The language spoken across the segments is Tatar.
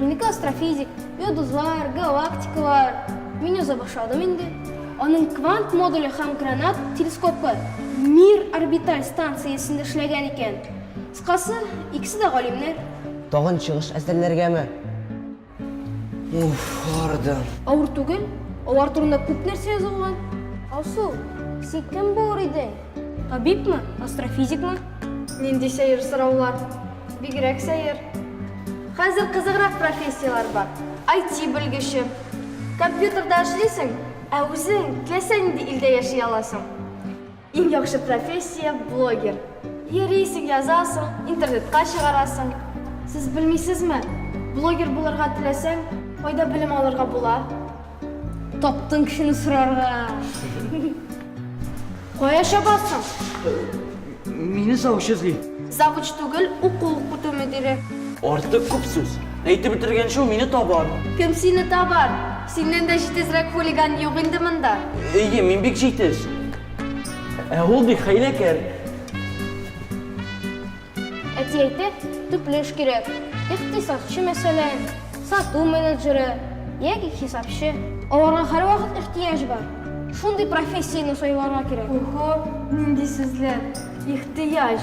Минеке астрофизик, йодызлар, галактикалар. Мин яза башладым инде. Аның квант модуле һәм гранат телескопы Мир орбиталь станциясендә эшләгән икән. Кыскасы, икесе дә галимнәр. Тагын чыгыш әзерләргәме? Уф, ардым. Авыр түгел, алар турында күп нәрсә язылган. Алсу, син кем булыр идең? Табибмы, астрофизикмы? Нинди сәер сораулар! Бигрәк сәер. Хәзер кызыграк профессияләр бар. IT белгече. Компьютерда эшлисең, ә үзең теләсә нинди илдә яши аласың. Иң яхшы профессия, блогер. Йөрисең, язасың, интернетка чыгарасың. Сез белмисезме, блогер булырга теләсәң, кайда белем алырга була? Таптың кешене сорарга. Кая чабасың? Мине завуч эзли. Завуч түгел, уку укыту мөдире. Артык күп сүз. Әйтеп бетергәнче ул мине табар. Кем сине табар? Синнән дә җитезрәк хулиган юк инде монда. Әйе, мин бик җитез. Ә ул бик хәйләкәр. Әти әйтте, төпле эш кирәк. Икътисадчы, мәсәлән, сату менеджеры яки хисапчы. Аларга һәрвакыт ихтыяҗ бар. Шундый профессияне сайларга кирәк. Охо, нинди сүзләр! Ихтыяҗ!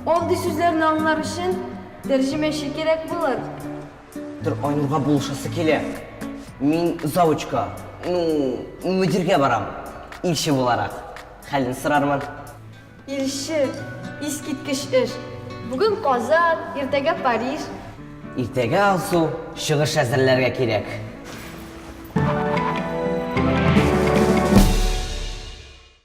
Андый сүзләрне аңлар өчен тәрҗемәче кирәк булыр. Тор, Айнурга булышасы килә. Мин завучка, ну, мөдиргә барам, илче буларак. Хәлен сорармын. Илче, искиткеч эш! Бүген Казан, иртәгә Париж. Иртәгә Алсу, чыгыш әзерләргә кирәк.